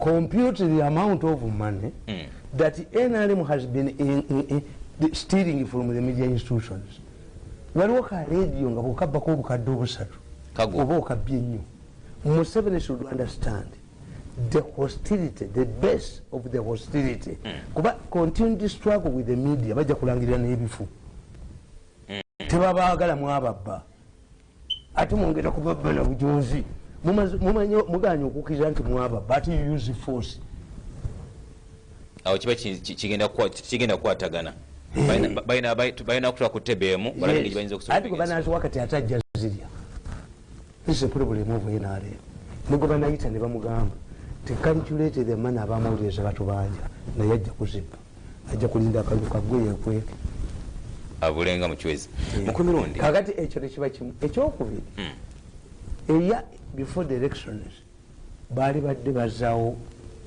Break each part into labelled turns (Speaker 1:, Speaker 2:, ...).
Speaker 1: compute the amount of money mm. that nrm has been in, in, in, the stealing from the media institutions waliwo ka radio nga bwekabbako obukadde obusatu oba okabbye ennyo museveni should understand the hostility the base of the hostility mm. kuba continue to struggle with the media bajja kulangirira n'ebifu mm. tebabagala mwababba ate mwongera kuba bana bujonzi muganye okukiriza nti mwaba but you use force
Speaker 2: awo kiba kigenda kukwatagana eh. balina kutula ku tebe emu balaebanazwa wakati ate
Speaker 1: ajja zirya ese pulobulemu ovu nrm nibwe banayita ne bamugamba tekanculated emana abamawulire ze batubanja naye ajja kuzibba ajja kulinda akalulu kagwe yekweke
Speaker 2: abulenga mucwezi eh. mukumirundi kakati ekyo tekiba
Speaker 1: kimu ekyokubiri hmm. eya before the elections baali badde bazawo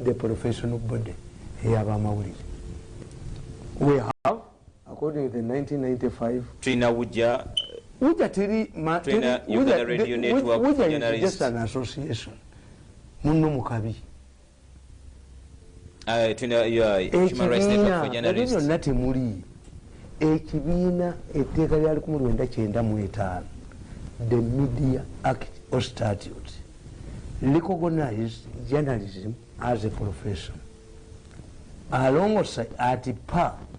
Speaker 1: the professional body eyabamawulire we have according to the 1995 tulina wuja
Speaker 2: wuja teri wuja is just an
Speaker 1: association munno mukabi
Speaker 2: ekibiinaebyo byonna temuli
Speaker 1: ekibiina etteeka lya likumu lwenda kyenda mu etaano the media act or statute recognized journalism as a profession alongosa ati pa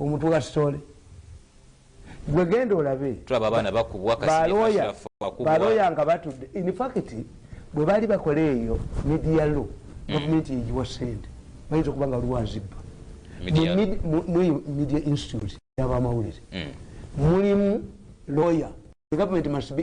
Speaker 1: omutwe wa story gwe genda olabe tulaba abaana bakubwa
Speaker 2: baloya nga
Speaker 1: batudde infact bwe baali bakola eyo media law mm. gavumenti yegiwa sente bayinza okuba nga lwazibba media institute yabamawulire mm. mulimu lawyer the government must be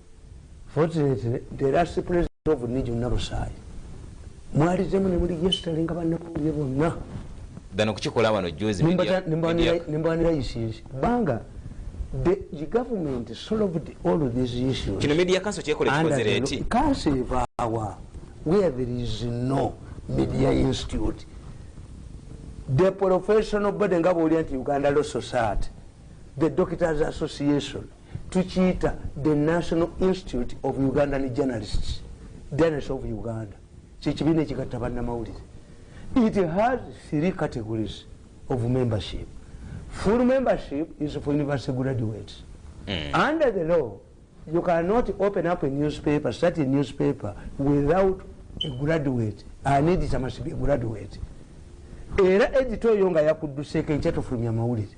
Speaker 1: Fortunately, the last president of Niju Nabusayi, mwali zemu ne muli yesterday nga banna mawulire bonna. Dano kukikola
Speaker 2: wano juzi media. Nimbanira
Speaker 1: isinzi. Banga, the, the government solved all these issues. Kino media kanso chekole
Speaker 2: chikozere eti. Kanso evawa,
Speaker 1: where there is no media institute. The professional body nga boli anti Uganda Law Society, the Doctors Association, tukiyita the national institute of ugandan journalists journalist of uganda kyekibiina ekigatta bannamawulire it has three categories of membership full membership is for university graduates mm. under the law you cannot open up a newspaper start a newspaper without a graduate an editor must be a graduate era edita oyo nga yakudduseeko enkyatufulumya amawulire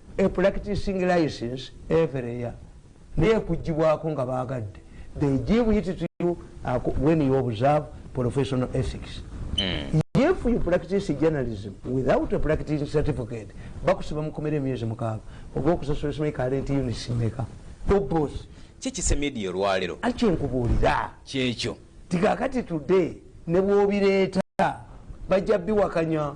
Speaker 1: a practicing license every year naye kujibwako nga bagadde they give it to you when you observe professional ethics mm. if you practice journalism without a practicing certificate bakusiba mukomera emyezi mukaaga oba okusasula simanyi current units meka obos kikise media
Speaker 2: olwalero akyenkubuulira
Speaker 1: kyekyo tikakati today nebwobireeta bajja biwakanya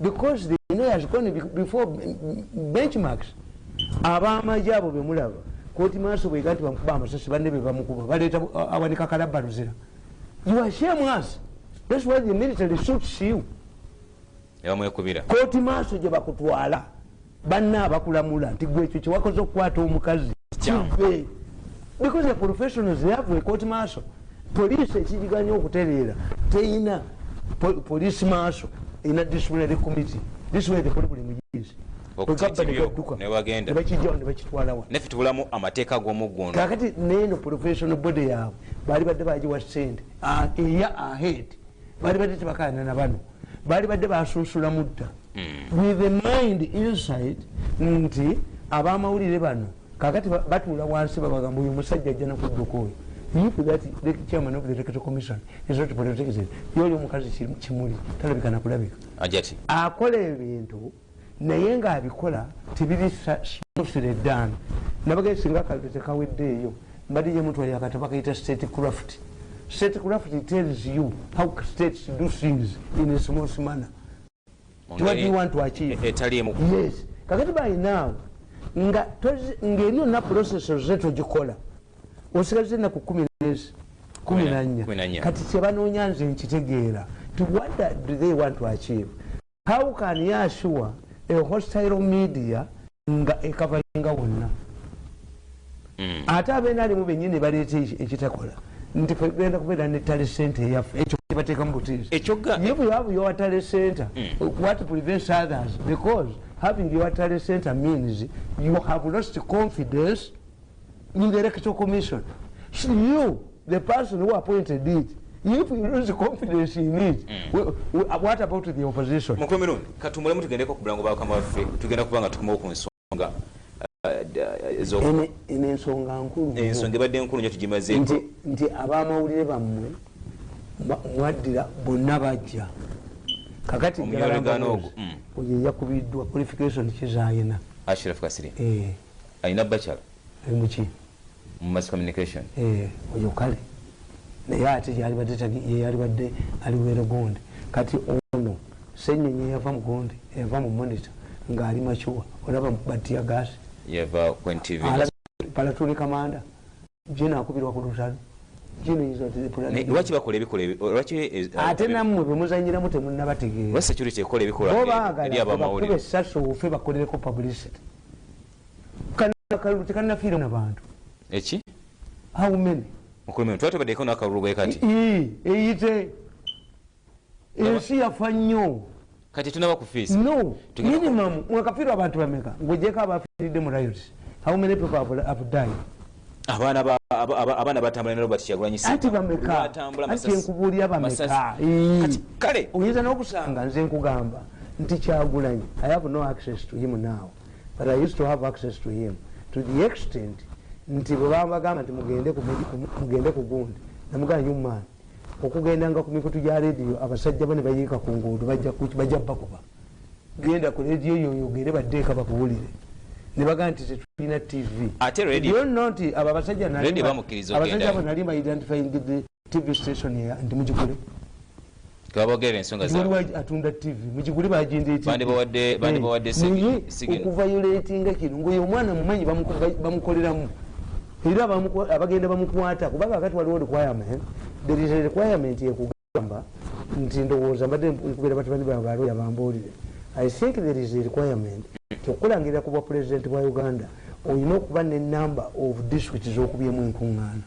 Speaker 1: because the know has gone before benchmarks abamaje abo bemulaba koti maaso bwega nti bamukuba amasasi banne be bamukuba baleeta awanika kalabba luzira you are shame us that's why the military suits you koti maaso gye bakutwala banna abakulamula nti gwe ekyo kyewakoze okukwata omukazi kive because the professionals they have a court marshal police ekiriganya okutereera teyina police marshal ina disciplinary committee this way the buli muyizi nebakijjawo nebakitwalawa
Speaker 2: nafe tubulamu amateeka ag'omuggundu kakati neeno
Speaker 1: professional body yaabwe baali badde bagiwa sente eya ahead baali badde tebakaana na bano baali badde basunsula mudda hmm. with the mind inside nti abamawulire bano kakati batuula wansi babagamba oyo omusajja ajja nakudduka oyo if that the chairman of the electoral commission is not protected yoli omukazi kimuli talabika nakulabika ajati akola
Speaker 2: ebintu
Speaker 1: naye nga abikola tebiri sire dan nabagee singa akaliro tekaweddeeyo mbadde yemutwalira akatabo akayita state craft state craft tells you how states do things in a small manner kakati balinaawo ngeri yonna process oze togikola osigaze enaku kumi nezi kumi nanya kati kyebanoonya nze nkitegeera tiwada do they want to achieve how can yasure a hostile media nga ekavainga wonna hmm. ate abeena alimu benyini nebaleeta ekitakola nti fegenda kubeera ne tale center eyaffe ekyo kibateekamu butiizi ye bwewabu yowa tale center hmm. what prevents others because having your tale center means you have lost confidence in the electoral commission so you the person who appointed it if you lose confidence in it mm. we, we, uh, what about the opposition mukulu mirundi katumulemu
Speaker 2: tugendeko ku bulango bwakama waffe tugenda kuba nga tukomawo ku nsonga uh, uh,
Speaker 1: eno ensonga nkulu ensonga ebadde nkulu nyo
Speaker 2: tugimaze nti, nti
Speaker 1: abamawulire bammwe mwaddira bonna bajja kakati omuyoleganoogo mm. oyo eyakubiddwa qualification kizayina ashiraf kasiri
Speaker 2: eh. alina bacala emuki eh,
Speaker 1: mu mass
Speaker 2: communication eh oyo kale
Speaker 1: naye ate yalibadde tagi yalibadde ali were gonde kati ono senyonyi yava mu gonde yava mu monitor nga ali machuwa olaba batia gas yava ku
Speaker 2: ntv pala tuli
Speaker 1: kamanda jina akubirwa ku lutalo jina izo tuli pula ne wachi bakole
Speaker 2: bikole wachi eh, eh, ate namwe
Speaker 1: bemuzanyira mute munna batige wa security ekole
Speaker 2: bikole ya ba mawuli sasu ufe
Speaker 1: bakole ko publicity akalulu tekanafiira na bantu eki
Speaker 2: how
Speaker 1: many mukulumiro twatubadeko
Speaker 2: nakalulu bwe kati eyite
Speaker 1: ensi yafa nnyo kati tunaba
Speaker 2: kufiisa no minimum
Speaker 1: mwakafiirwa abantu bameka ngojeko abafiiridde mu riot how many people have, have died abaana ba abaana batambula ne robert kyagulanyi ati bameka ati enkubuulira bameka kati kale
Speaker 2: oyinza n'okusanga
Speaker 1: nze nkugamba nti kyagulanyi i have no access to him now but i used to have access to him to the extent nti bwebambagamba nti mugende ku gundi namugana nyumaani okugendanga ku mikutu gya rediyo abasajja bane bayiika ku nguudo bajja bakuba genda ku rediyo yoyogere baddeeka bakuwulire nebagaa nti tetulina tv
Speaker 2: nti abo abasajja
Speaker 1: abasajja bo nali maidentifying tv station ya ndi mujikule
Speaker 2: twabogera ensonga za waliwo atunda tv mujikule
Speaker 1: bagenda eti bandi bawadde bandi eh, bawadde
Speaker 2: sigi sigi okuva yoleti
Speaker 1: nga kino ngoyo omwana mumanyi bamukolera mu era abagenda bamukwata kuba kakati waliwo requirement there is a requirement yekugamba nti ndowooza mbadde nkubera batabani babalo yabambuulire i think there is a requirement kyokukulangirira ku bwa president bwa uganda olina okuba ne number of district zokubyemu enkuŋŋaana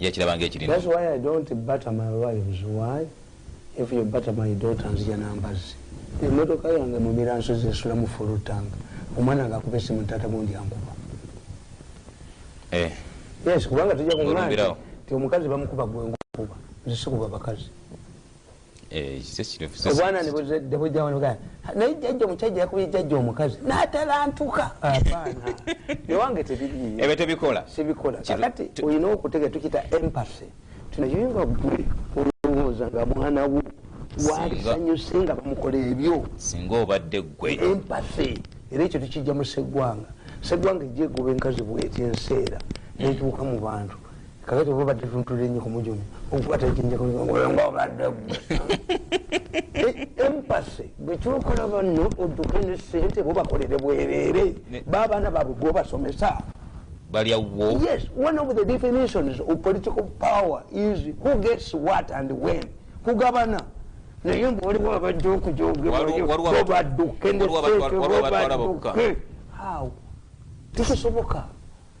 Speaker 1: yakiraba nga
Speaker 2: ekirina That's why I
Speaker 1: don't butter my wives. Why? If you butter my daughter nzija na mbazzi. Emmotoka yange mu Miransozi esula mu full tank. Omwana nga akuba essimu taata gundi ankuba. Eh. Yes, kubanga tujja kung'ana nti omukazi bamukuba gwe nkuba. Nze sikuba bakazi. Eh, obwana nebuzeddebujawanugana naye jjajja omukyajja yakubye jjajja omukazi natalantuka abaana ewange tebiriebyo tebikola sibikola
Speaker 2: kakati
Speaker 1: olina okutega tukita empasy tinayoyinga gwe olowooza nga mwana wo walisanyuse nga bamukola ebyo singa obadde
Speaker 2: gwe empasy
Speaker 1: era ekyo tukijja mu seggwanga seggwanga ejja egoba enkazi bweti enseera netuuka mu bantu kakati oba obadde tuntule nnyo kumujuni okukwata ekinjakulinga obadde gwe e, empase bwekyokola banno odduke ne sente bobakolere bwerere baabaana baabwe gwobasomesa balya
Speaker 2: wo yes one of
Speaker 1: the definitions of political power is who gets what and when kugabana naye mbu waliwo abajja okujogebobadduke ne sente bobaduke how tekisoboka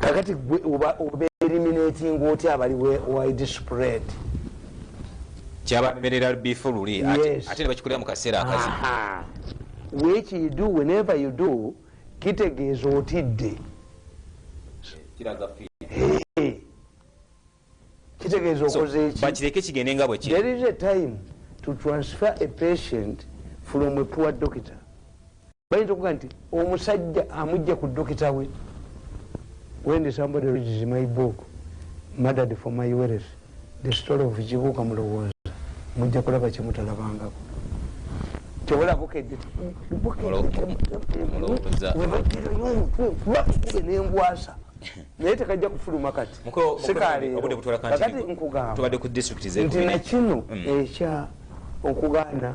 Speaker 1: kakati gwe obaeliminatinga otya abali wide spread
Speaker 2: kyabamerera bifu luli ate nebakikolera mu kaseera akazi
Speaker 1: wekidu whenever you do kitegeeza otidde kitegeeza okozeekibakireke kigende nga bweki
Speaker 2: there is a time
Speaker 1: to transfer a patient from a poor doctor bayinza okuga nti omusajja amujja ku dokita we wendi somebody reads my book murdered for my wealth the story of kibuuka mulowooza mujja kulaba kyemutalabangako kyobola bukedde nembwasa naye tekajja kufuluma kati sikaleerokati nkugamba nti nakino mm. ekya okugaana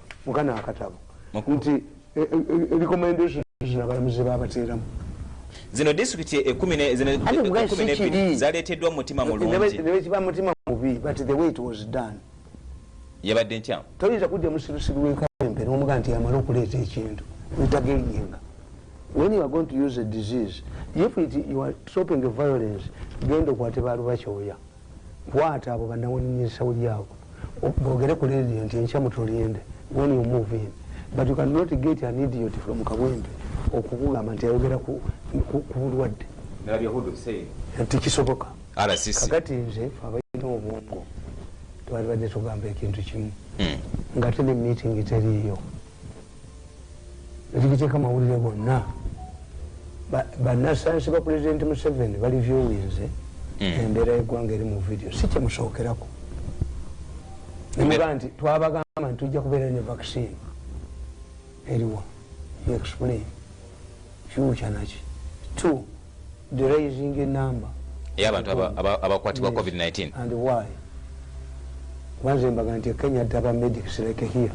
Speaker 1: mukana akatabo nti e, e, e, recommendation zino abalamuzi babateeramu zino
Speaker 2: disitulikiti ekumi nebiri zaleeteddwa mutima mulunginebekiba mutima mubi
Speaker 1: but the way it was done yabadde
Speaker 2: nkyamu toyinza kujja musirusiru
Speaker 1: wekawempe nomuga nti amala okuleeta ekintu ntageyinga when you are going to use a disease if it, you are stopping violence genda okwate balubakyoya Kwata abo banawanyini esaudi abo bogere ku radio nti enkya mutulinde when you move in but you can not get an idiot from kabwembe okukugamba nti ayogera ku bulwadde tikisoboka kakati nze fe abalina obwongo twalibadde tugamba ekintu kimu hmm. ngate ne meeting teriiyo ekigiteeka mawulire gonna banasansi ba pulezidenti museveni bali vyowinze hmm. embeera yegwanga eri mu vidiyo si kyemusookerako nemuga nti twabagamba nti tujja kubeera ne vaccine eriwa explain Kyokya naki to the rising number ya bantu
Speaker 2: abakwatibwa covid 19 and why
Speaker 1: wanze mbaga nti Kenya daba medics like here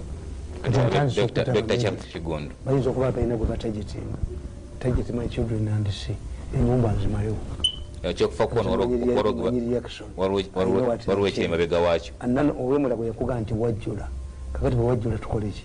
Speaker 1: bayinza okuba atalina gwe batajetenga tajet my children and see enyumba nzimalewo ekyokufa
Speaker 2: kuona waliwo ekyemabega wakyo olwemulago
Speaker 1: yakuga nti wajjula kakati bwewajjula tukoleki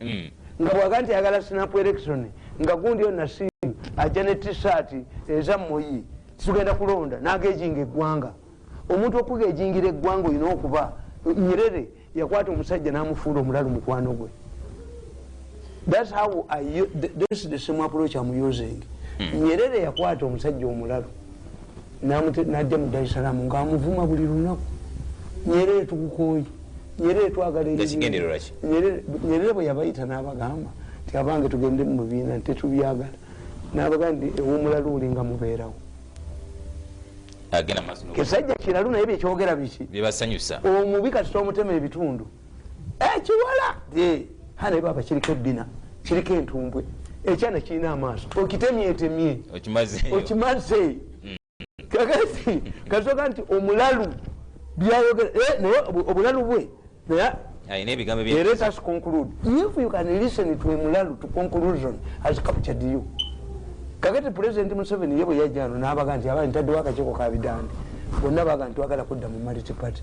Speaker 1: hmm. nga bwaga nti ayagala sinapu erection nga gundi yo nasimu ajja ne tisaati eza muyi titugenda kulonda nagejinga eggwanga omuntu okugejingira eggwanga olina okuba nyerere yakwata omusajja namufuula omulalu mukwano gwe thats how this the same approach am using hmm. nyerere yakwata omusajja omulalu najja mu dar es salaam nga amuvuma buli lunaku nyerere tukukooye nyerere twagala nyerere bwe yabayita n'abagamba nti abange tugende mu bibiina tetubyagala n'abagamba nti ewumula luuli nga mubeerawo kisajja kiralu naye byekyogera biki omubi
Speaker 2: kati tomutema
Speaker 1: ebitundu ekiwala hana baba kiriko ebbina kiriko entumbwe ekyana kirina amaaso okitemyetemye okimaze mm. kakati kasoka nti omulalu byayogera eh, naye obulalu bwe naye alina ebigambo byeyaletasconcludeefuyokanlistentoemulalutoconclusionascaptured you kakati president museveni ye bwe yajjano n'abaga nti abali ntaddewo akakiiko ka bidande bonna baga nti twagala kudda mu multiparty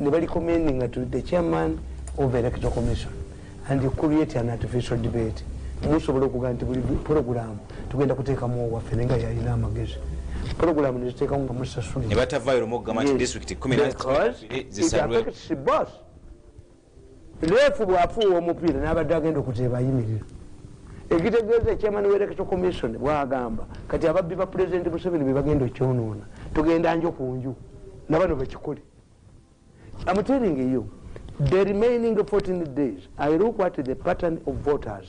Speaker 1: ne balikommendinga to the chairman of electoral commission and you create an artificial debate musobola okugaa nti buli pulogulaamu tugenda kuteekamu owaffe naye nga yalina amagezi pulogulaamu neziteekamu nga musasuli ne batavayo lumu okugamba
Speaker 2: nti disitulikiti kumi na zisabwe
Speaker 1: leefu bwafuuwa omupiira nabadde agenda okuteeba ayimirira ekitegeeza ekyamani wereketo commission bwagamba kati ababbi ba pulezidenti museveni bebagenda okyonoona tugenda njo ku nju nabano bakikole amuteringa eyo the remaining 14 days i look at the pattern of voters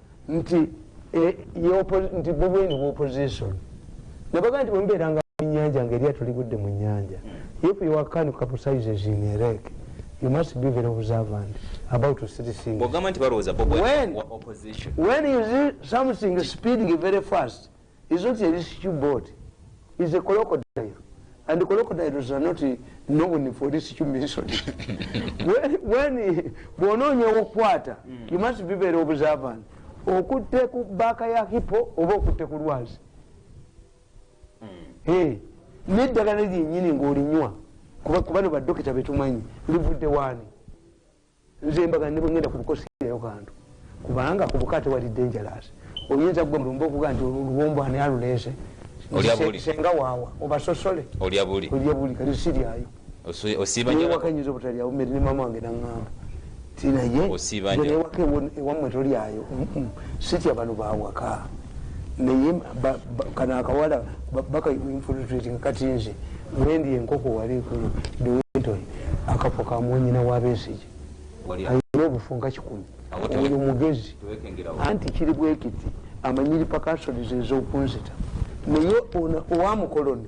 Speaker 1: nti eh, nti bobweni bwoposition nabaga nti bwemubeeranga munyanja nga eryato ligudde mu nyanja if you are can capsizes in a rek you must be very observant about three thingswhen you see something speeding very fast is not a rescue boat is a crocodile and crocodiles are not known for rescue mission when bwonoonya okukwata you must be very observant okutte ku baaka ya hippo oba okutte ku lwazi hmm. neddagala lyenyini ngaolinywa kuba bano badokita betumanyi livudde waani nze mbaga nebwengenda kubukosi nayo kantu kubanga kubuka tewali dangerous oyinza gwe mulumba okuga nti oluwombo ani aluleese senga wawa obasosole olya buli olya buli kati siryayo osiibanyewakanyinza obutalyawo meri ne mama wange nangamba tinaye ewaka ewamwe tolyayo sitya bano bawaka naye kano akawala baka infiltrating kati nze wendi enkoko wali ekulu dewentoni akafo ka mwanyina wa besige ayina obufu nga kikumi oyo mugezi anti kiri bwekiti amanyiri pakasolizo ezokunzita naye owamukoloni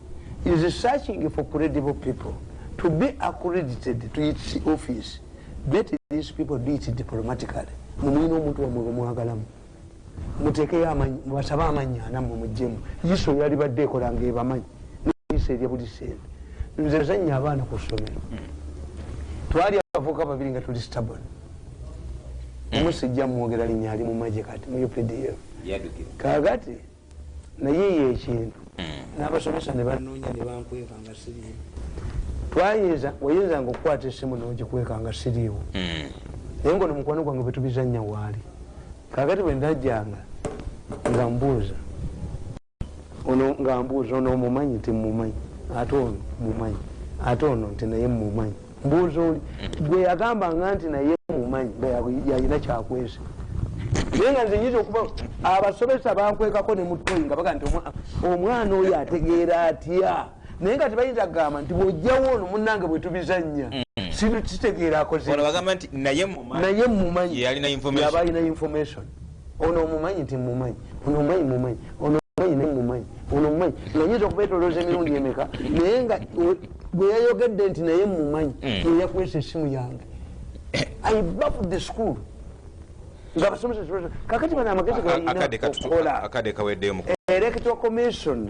Speaker 1: is searching for credible people to be accredited to its office let these people do it diplomatically mumuyina omuntu wamwe bamwagalamu mutekeyo amanyi mubasabe amanyi anamwe mujjemu iso yalibadde ekola nga ebamanyi nisa erya buli sente nze nsanya abaana ku ssomero twali abavuka babiri nga tuli stabon omusijja mwogera linya ali mu maje kati mu updf kagati naye eyo ekintu n'abasomesa ne banoonya ne bankweka nga siriiwo twayinza oyinzanga okukwata esimu n'ogikweka nga siriiwo hmm. naye ngaono mukwano gwange bwe tubizannya waali kakati bwe ndajjanga nga mbuuza ono nga mbuuza ono mumanyi nti mumanyi ate ono mumanyi ate ono nti naye mumanyi mbuuza oli gwe yagambanga nti naye mumanyi nga yalina kyakwese naye nga nze nyinza okuba abasomesa bakwekako ne mutoyi nga baga nti omwana oyo ategeera atya naye nga tebayinza kugamba nti bwojjawo ono munange bwetubizannya mm. sitegeera akoze naye mumanyi yaba alina information ono omumanyi temumanyi ono omumanyi mumanyi ono omumanyi naye mumanyi ono omumanyi nga nyinza okubetolooza emirundi emeka naye nga gwe yayogedde nti naye mumanyi hmm. eyakwesa esimu yange i love the school nga basomesa kakati bano amagezi galinaakola electoral commission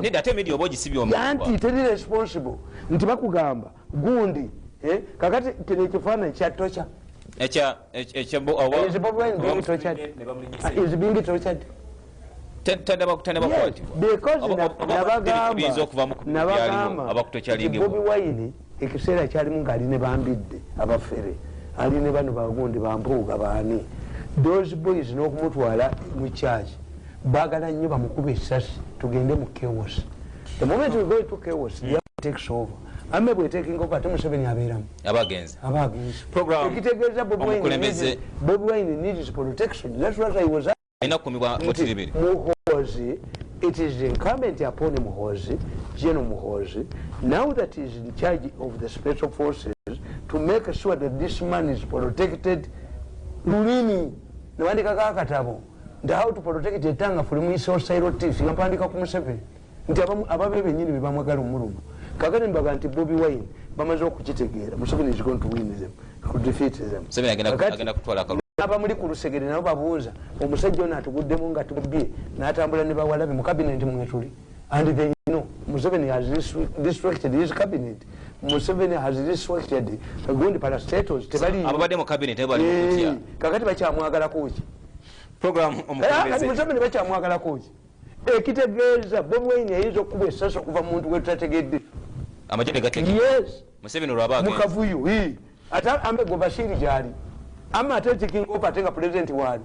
Speaker 1: nedda ate media oba ogisibye omuanti teri responsible nti bakugamba gundi eh? kakati kino ekifaananyi kya tocha tadabakutanabakwatinabagamba ekiseera kyalimu ngaali ne bambidde abafere ali ne bano bagundi bampuuga baani those boys n'okumutwala mu church bagala nnyo bamukuba esasi tugende mu chaos the moment we go to chaos the other takes over ame bwetekinga oba ate museveni abeeramu abagenzi abagenzi ekitegeeza bobi wine needs protection that's what i was muhozi it is incumbent upon muhozi general muhozi now that is in charge of the special forces to make sure that this man is protected lulimi newandikako akatabo nti how to protect etanga fuli muisosairotis nga mpandika ku museveni nti ababe benyini bebamwagala omuluma kakati mbaga nti bobi wine bamaze okukitegeera museveni is going to win them to defeat them abamuli ku lusegere nabo babuuza omusajja ono atuguddemu nga tubye natambula ne bawalabi mu kabineti mwetuli and they know museveni has distracted his cabinet museveni has distracted gundi parastatos tebaliababadde mu kabineti bali
Speaker 2: kakati bakyamwagalako
Speaker 1: ki program
Speaker 2: omukulembeze. Kati mzamini bacha mwagala
Speaker 1: kuji. ekitegeeza Bobi Wine yayinza okukuba essasi okuva muntu gwe tutategedde amagye negatege
Speaker 2: yes museveni
Speaker 1: olwaba
Speaker 2: mukavuyo
Speaker 1: ate ambe gwe bashiri gyali ama ate taking over ate nga president waali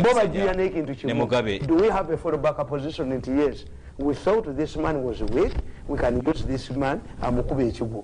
Speaker 1: bo bajiya n'ekintu kimu do we have a fallback position nti yes we thought this man was weak we can use this man amukuba ekigwo